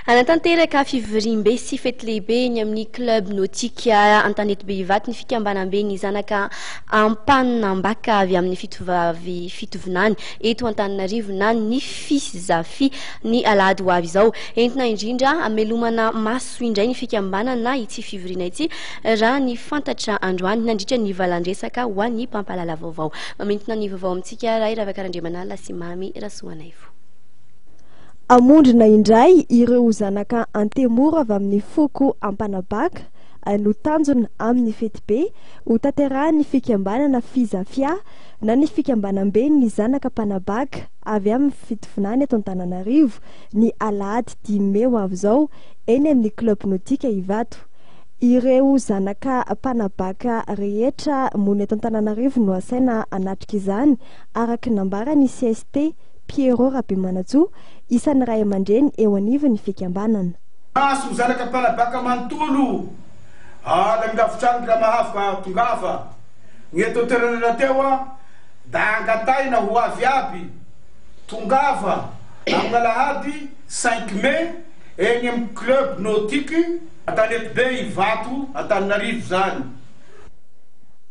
Hanatanteraka fivoriambe sy fety lehibe eny amin'ny Club Nautique Antanety Behivato ny fikambanambe ny zanaka Ampaninambaka avy amin'ny fitovavy fitovinany eto Antananarivo na ny Fizafi ny alahady ho avy izao. Entina indrindra hamelomana maso indray ny fikambanana ity fivoriana ity raha ny fantatra androany nandritra ny valandresaka ho an'ny mpampahalala vaovao. Mamintina ny vaovao amintsika Ray Ravakarandriamanala sy Mamy Rasoanaivo. Hamondrona indray ireo zanaka Antemoro avy amin'ny foko Ampanabaka no tanjona amin'ny fetibe hotanterahin'ny fikambanana Fizafia na ny fikambanamben'ny zanaka mpanabaka avy amin'ny fitovinany eto Antananarivo ny alahady dimy mey ho avy izao eny amin'ny Club Nautique Ivato. Ireo zanaka mpanabaka rehetra monina eto Antananarivo no asaina hanatrika izany araka ny nambaran'ny cst. Pierrot Rabemanantsoa, isan'ny ray aman-dreny eo anivon'ny fikambanana. Maso zanaka mpanabaka manontolo any amin'ny lavitrano raha mahavaka tongava ny eto an-toerana rahateo an, da angataina ho avy aby tongava amin'ny alahady cinq mai eny amin'ny club nautique Antanetibe Ivato Antananarivo izany.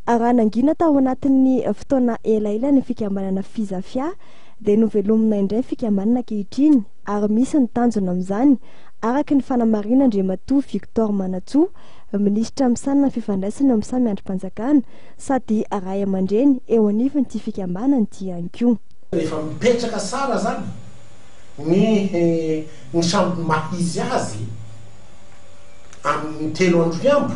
Raha nangina tao anatin'ny fotoana elaela ny fikambanana Fizafia dia novelomina indray fikambanana ankehitriny ary misy ny tanjona amin'izany araka ny fanamarian'Andriamatoa Victor Manatsoa, Minisitra misahana ny fifandraisana eo amin'ny samy andrim-panjakana sady ray aman-dreny eo anivon'ity fikambanana ity ihany koa. Efa mipetraka tsara izany ny ny sambo maha izy azy amin'ny telo andro hiambo.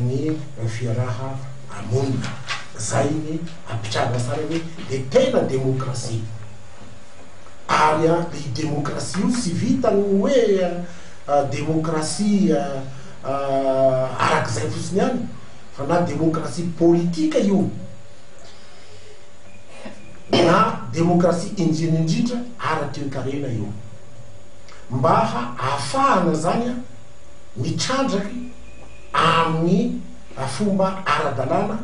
ny fiaraha monina zay ny ampitrarina sara hoe de tena demokrasia ary a io demokrasia io tsy vitan'ny hoe demokrasia arak'izay fotsiny ihany fa na demokrasia politika io na demokrasia indrina indrindra ara-toekarena io mba hahafahana zany a mitrandraky amin'ny fomba ara-dalàna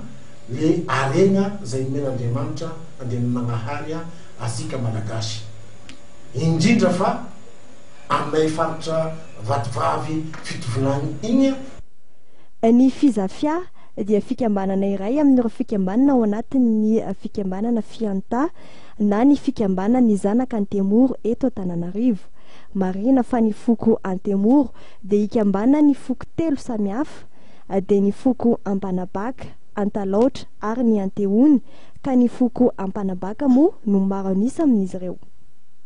le harena zay nomen'Andriamanitra andehanan'Agnahary asika Malagasy indrindra fa aminay faritra vatovavy fitovinagny igny. Ny Fizafia dia fikambanana iray amin'ireo fikambanana ao anatin'ny fikambanana Fianta na ny fikambanan'ny zanaka Antemoro eto Antananarivo. Marihina fa ny foko Antemoro dia ikambana ny foko telo samy hafa, dia ny foko Ampanabaka, Antalaotra ary ny Antehony, ka ny foko Ampanabaka moa no maro an'isa amin'izy ireo.